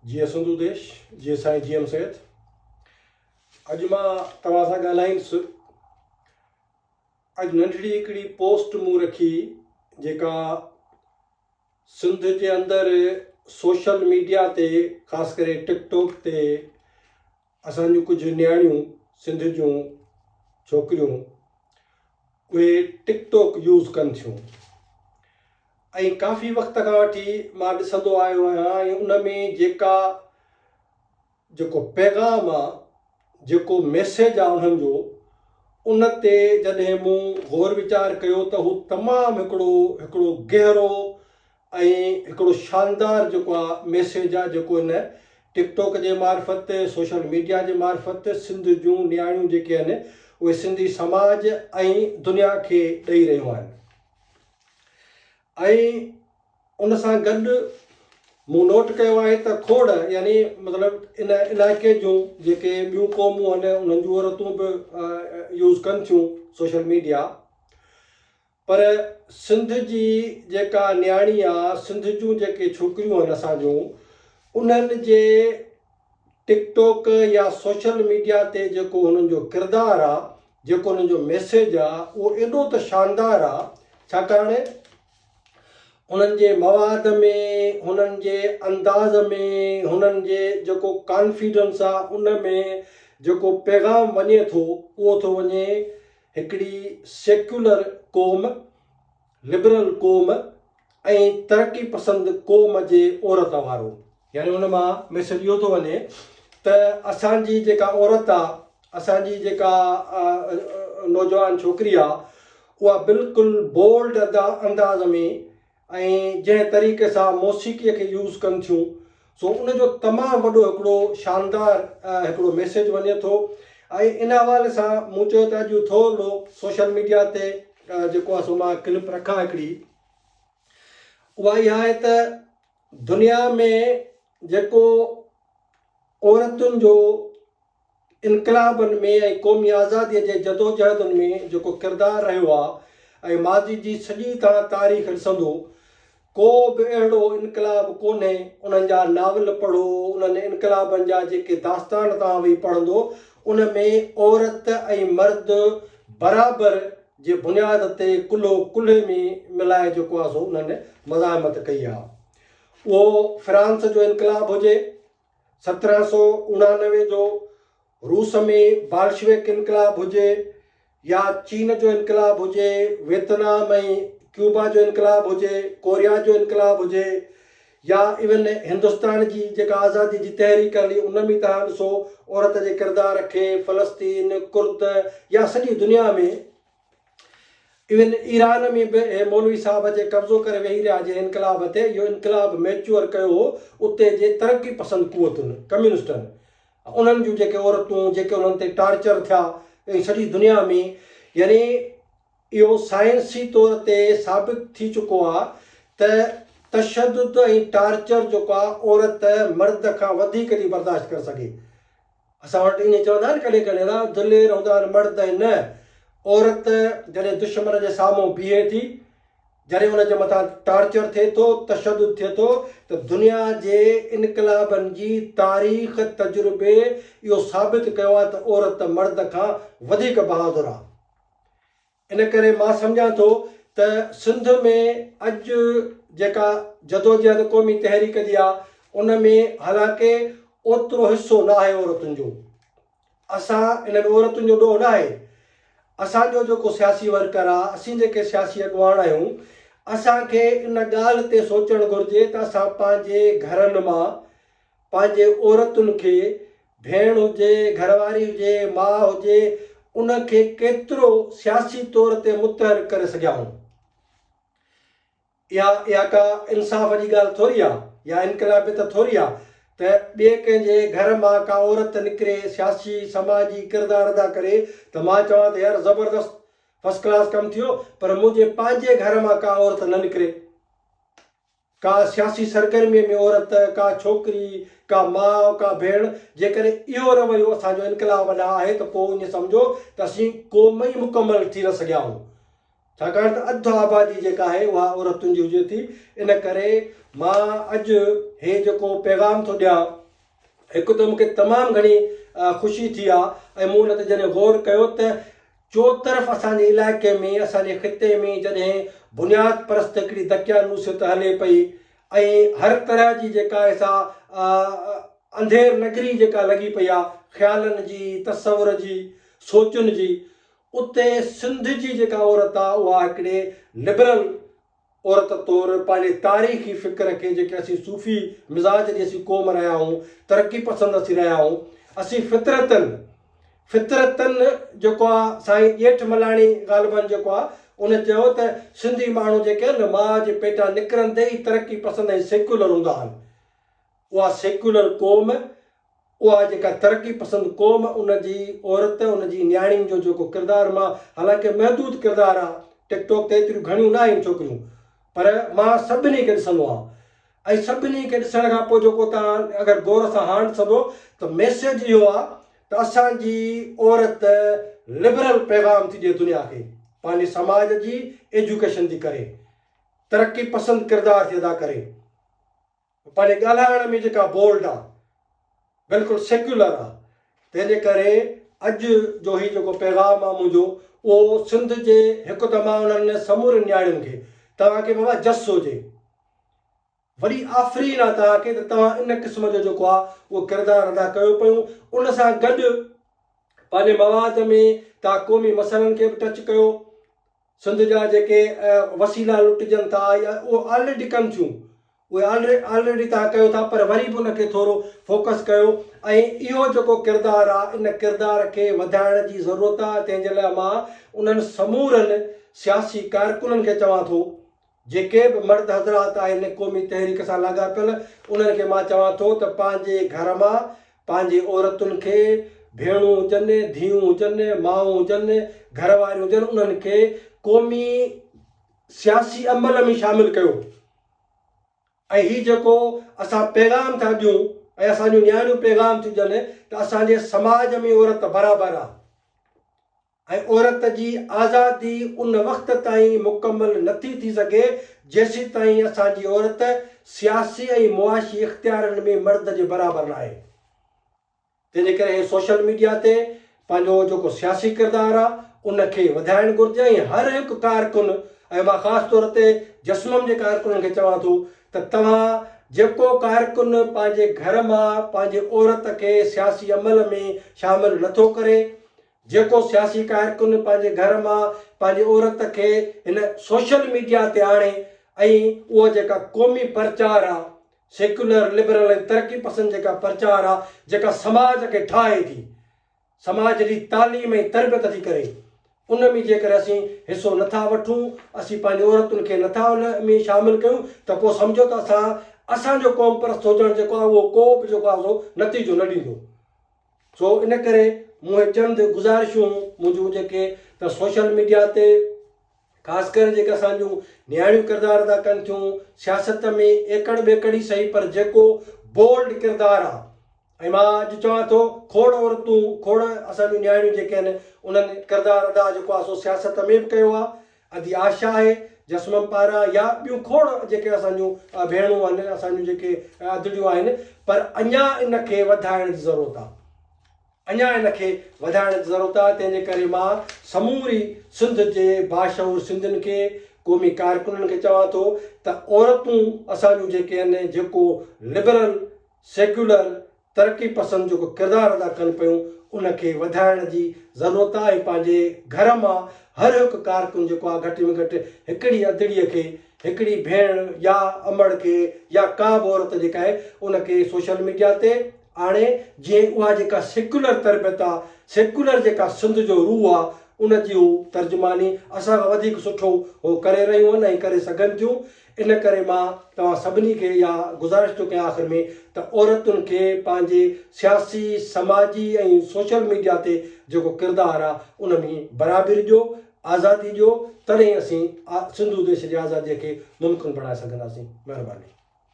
جيئي سنڌو ديش جيئي سائين G M Syed اڄ مان توهان سان ڳالهائينس اڄ ننڍڙي هڪڙي پوسٽ مون رکي جيڪا سنڌ جي اندر سوشل ميڊيا تي خاص ڪري ٽڪ ٽاڪ تي اسان جون ڪجهه نياڻيون سنڌ جون ڇوڪريون اهي ٽڪ ٽاڪ يوز ڪن ٿيون ۽ ڪافي وقت کان وٺي مان ڏسندو آيو آهيان ۽ ان ۾ جيڪا جيڪو پيغام آ جيڪو ميسيج آ انهن جو ان تي جڏهن مون غور ويچار ڪيو ته هو تمام هڪڙو هڪڙو گهرو ۽ هڪڙو شاندار جيڪو آ ميسيج آ جيڪو ان ٽڪ ٽوڪ جي معرفت سوشل ميڊيا جي معرفت سنڌ جون نياڻيون جيڪي آهن اهي سنڌي سماج ۽ دنيا کي ڏئي رهيون آهن. ۽ ان سان گڏ مون نوٽ ڪيو آهي ته کوڙ يعني مطلب ان علائقي جون جيڪي ٻيون قومون آهن انهن جون عورتون به يوز ڪن ٿيون سوشل ميڊيا پر سنڌ جي جيڪا نياڻي آ سنڌ جون جيڪي ڇوڪريون آهن اسان جون انهن جي ٽڪ ٽوڪ يا سوشل ميڊيا تي جيڪو هنن جو ڪردار آ جيڪو هنن جو ميسيج آ اهو ايڏو ته شاندار آ ڇاڪاڻ هنن جي مواد ۾ هنن جي انداز ۾ هنن جي جيڪو ڪانفيڊنس آ ان ۾ جيڪو پيغام وڃي ٿو اهو ٿو وڃي هڪڙي سيڪيولر قوم لبرل قوم ۽ ترقي پسند قوم جي عورت وارو. يعني ان مان ميسيج اهو ٿو وڃي ته اسان جي جيڪا عورت آ اسان جي جيڪا نوجوان ڇوڪري آ اها بلڪل بولڊ ادا انداز ۾ ۽ جنهن طريقي سان موسيقي کي يوز ڪن ٿيون سو ان جو تمام وڏو هڪڙو شاندار هڪڙو ميسيج وڃي ٿو ۽ ان حوالي سان مون چيو ته اڄ ٿورڙو سوشل ميڊيا تي جيڪو آهي سو مان ڪلپ رکان هڪڙي اها اها آهي ته دنيا ۾ جيڪو عورتن جو انقلابن ۾ ۽ قومي آزاديء جي جدوجهدن ۾ جيڪو ڪردار رهيو آهي ۽ ماضي جي سڄي توهان تاريخ ڏسندو ڪو به اهڙو انقلاب ڪونهي انهن جا ناول پڙهو انهن انقلابن جا جيڪي داستان توهان ويهي پڙهندو ان ۾ عورت ۽ مرد برابر جي بنياد تي ڪلهو ڪلهي ۾ ملائي جيڪو آهي سو انهن مزاحمت ڪئي آهي اهو فرانس جو انقلاب هجي سترهن سؤ اڻانوي جو روس ۾ بالشويڪ انقلاب هجي يا چين جو انقلاب هجي، ويتنام ۽ ڪيوبا جو انقلاب هجي، ڪوريا جو انقلاب هجي يا ايون هندستان جي جيڪا آزاديء جي تحريڪ هلي ان ۾ توهان ڏسو عورت جي ڪردار کي فلسطين، ڪرد يا سڄي دنيا ۾. ايون ايران ۾ به اهي مولوي صاحب اچي قبضو ڪري ويهي رهيا جنهن انقلاب تي اهو انقلاب ميچوئر ڪيو هو اتي جي ترقي پسند قوتن، ڪميونسٽن، انهن جون جيڪي عورتون جيڪي انهن تي ٽارچر ٿيا ۽ سڄي دنيا ۾ يعني اهو سائنسي طور تي ثابت ٿي چڪو آ ته تشدد ۽ ٽارچر جيڪو آ عورت مرد کان وڌيڪ ٿي برداشت ڪري سگهي اسان وٽ ائين چوندا آهن ڪڏهن ڪڏهن ته دلير هوندا آهن مرد ۽ نه عورت جڏهن دشمن جي سامهون بيهي ٿي جڏهن ان جي مٿان ٽارچر ٿئي ٿو تشدد ٿئي ٿو ته دنيا جي انقلابن جي تاريخ تجربي اهو ثابت ڪيو آهي ته عورت مرد کان وڌيڪ بهادر آهي ان ڪري مان سمجهان ٿو ته سنڌ ۾ اڄ جيڪا جدوجهد قومي تحريڪ جي آ ان ۾ حالانڪه اوترو حصو نه آهي عورتن جو اسان ان ۾ عورتن جو ڏوهه نه آهي اسان جو جيڪو سياسي ورڪر آ اسين جيڪي سياسي اڳواڻ آهيون اسان کي ان ڳالهه تي سوچڻ گهرجي ته اسان پنهنجي گهرن مان پنهنجي عورتن کي، ڀيڻ هجي، گهرواري هجي، ماء هجي، ان کي ڪيترو سياسي طور تي متحرڪ ڪري سگهيا هئون. اها اها ڪا انصاف جي ڳالهه ٿوري آ يا انقلابيت ٿوري آ ته ٻئي ڪنهن جي گهر مان ڪا عورت نڪري سياسي سماجي ڪردار ادا ڪري ته مان چوان ته يار زبردست فسٽ ڪلاس ڪم ٿيو پر منهنجي پنهنجي گهر مان ڪا عورت نه نڪري. ڪا سياسي سرگرميء ۾ عورت، ڪا ڇوڪري، ڪا ماء، ڪا ڀيڻ، جيڪڏهن اهو رويو اسان جو انقلاب ڏانهن آهي ته پوء ائين سمجهو ته اسين قوم ئي مڪمل ٿي نه سگهيا آهيون. ڇاڪاڻ ته اڌ آبادي جيڪا آهي اها عورتن جي هجي ٿي. ان ڪري مان اڄ هي جيڪو پيغام ٿو ڏيان. هڪ ته مون کي تمام گهڻي خوشي ٿي آ ۽ مون ان تي جڏهن غور ڪيو ته چوطرف اسان جي علائقي ۾ اسان جي خطي ۾ جڏهن بنياد پرست هڪڙي دقيانوسيت هلي پئي ۽ هر طرح جي جيڪا ايسا انڌير نگري جيڪا لڳي پئي آ خيالن جي تصور جي سوچن جي اتي سنڌ جي جيڪا عورت آ اها هڪڙي لبرل عورت طور پنهنجي تاريخي فڪر کي جيڪي اسين صوفي مزاج جي اسين قوم رهيا آهيون ترقي پسند اسين رهيا آهيون اسين فطرتن فطرتن جيڪو آ سائين ڄيٺ ملاڻي غالبن جيڪو آ ان چيو ته سنڌي ماڻهو جيڪي آهن ماء جي پيٽان نڪرندي ئي ترقي پسند ۽ سيڪيولر هوندا آهن اها سيڪيولر قوم اها جيڪا ترقي پسند قوم ان جي عورت ان جي نياڻين جو جيڪو ڪردار مان حالانڪه محدود ڪردار آ ٽڪ ٽاڪ تي ايتريون گهڻيون ناهن ڇوڪريون پر مان سڀني کي ڏسندو آهيان ۽ سڀني کي ڏسڻ کان پوء جيڪو تان اگر غور سان هاڻ ڏسندو ته ميسيج اهو آ ته اسان جي عورت لبرل پيغام ٿي ڏي دنيا کي پنهنجي سماج جي ايجوڪيشن ٿي ڪري ترقي پسند ڪردار ٿي ادا ڪري. پنهنجي ڳالهائڻ ۾ جيڪا بولڊ آ، بلڪل سيڪيولر آ، تنهن جي ڪري اڄ جو هي جيڪو پيغام آ منهنجو اهو سنڌ جي هڪ ته مان انهن سمورين نياڻين کي توهان کي بابا جس هجي. وڏي آفرين آ توهان کي ته توهان ان قسم جو جيڪو آ اهو ڪردار ادا ڪيو پيون ان سان گڏ پنهنجي مواد ۾ توهان قومي مسئلن کي به ٽچ ڪيو، سنڌ جا جيڪي وسيلا لٽجن ٿا يا اهي آلريڊي ڪن ٿيون اهي آلريڊي توهان ڪيو ٿا پر وري به ان کي ٿورو فوڪس ڪيو ۽ اهو جيڪو ڪردار آهي ان ڪردار کي وڌائڻ جي ضرورت آهي تنهن جي لاء مان انهن سمورن سياسي ڪارڪنن کي چوان ٿو جيڪي به مرد حضرات آهن قومي تحريڪ سان لاڳاپيل انهن کي مان چوان ٿو ته پنهنجي گهر مان پنهنجي عورتن کي ڀيڻون هجن ڌيئون هجن مائون هجن گهر واريون هجن انهن کي قومي سياسي عمل ۾ شامل ڪيو ۽ هي جيڪو اسان پيغام ٿا ڏيون ۽ اسان جون نياڻيون پيغام ٿيون ڏين ته اسان جي سماج ۾ عورت برابر آهي. ۽ عورت جي آزادي ان وقت تائين مڪمل نٿي ٿي سگهي جيسيتائين اسان جي عورت سياسي ۽ معاشي اختيارن ۾ مرد جي برابر ناهي تنهنجي ڪري هي سوشل ميڊيا تي پنهنجو جيڪو سياسي ڪردار آهي ان کي وڌائڻ گهرجي ۽ هر هڪ ڪارڪن ۽ مان خاص طور تي جسمم جي ڪارڪنن کي چوان ٿو ته توهان جيڪو ڪارڪن پنهنجي گهر مان پنهنجي عورت کي سياسي عمل ۾ شامل نٿو ڪري جيڪو سياسي ڪارڪن پنهنجي گهر مان پنهنجي عورت کي هن سوشل ميڊيا تي آڻي ۽ اهو جيڪا قومي پرچار آ سيڪيولر لبرل ۽ ترقي پسند جيڪا پرچار آ جيڪا سماج کي ٺاهي ٿي سماج جي تعليم ۽ تربيت ٿي ڪري ان ۾ جيڪڏهن اسين حصو نٿا وٺون اسين پنهنجي عورتن کي نٿا ان ۾ شامل ڪيون ته پوء سمجهو ته اسان اسان جو قوم پرست هجڻ جيڪو آ اهو ڪو به جيڪو آ سو نتيجو نه ڏيندو. سو ان ڪري مون هي چند گذارشون منهنجون جيڪي ته سوشل ميڊيا تي خاص ڪري جيڪي اسان جون نياڻيون ڪردار ادا ڪن ٿيون سياست ۾ ايڪڙ ٻيڪڙ ئي سهي پر جيڪو بولڊ ڪردار آهي ۽ مان اڄ چوان ٿو کوڙ عورتون کوڙ اسان جون نياڻيون جيڪي آهن انهن ڪردار ادا جيڪو آهي سو سياست ۾ به ڪيو آهي ادي آشا آهي، جسومم پارا يا ٻيون کوڙ جيڪي اسان جون ڀيڻون آهن، اسان جون جيڪي ادڙيون آهن، پر اڃا ان کي وڌائڻ جي ضرورت آهي. اڃا ان کي وڌائڻ جي ضرورت آهي، تنهن جي ڪري مان سموري سنڌ جي باشعور سنڌين کي، قومي ڪارڪنن کي چوان ٿو ته عورتون اسان جون جيڪي آهن، جيڪو لبرل، سيڪيولر، ترقي پسند جيڪو ڪردار ادا ڪن پيون ان کي وڌائڻ جي ضرورت آ ۽ پنهنجي گهر مان هر هڪ ڪارڪن جيڪو آ گهٽ ۾ گهٽ هڪڙي ادڙي کي هڪڙي ڀيڻ يا امڙ کي يا ڪا به عورت جيڪا آهي ان کي سوشل ميڊيا تي آڻي جيئن اها جيڪا سيڪولر تربيت آ سيڪولر جيڪا سنڌ جو روح آ ان جي هو ترجماني اسان کان وڌيڪ سٺو هو ڪري رهيون آهن ۽ ڪري سگهن ٿيون ان ڪري مان توهان سڀني کي اها گذارش ٿو ڪيان آخر ۾ ته عورتن کي پنهنجي سياسي، سماجي ۽ سوشل ميڊيا تي جيڪو ڪردار آ ان ۾ برابري ڏيو، آزادي ڏيو تڏهن اسين سنڌو ديش جي آزادي کي ممڪن بڻائي سگهنداسين. مهرباني.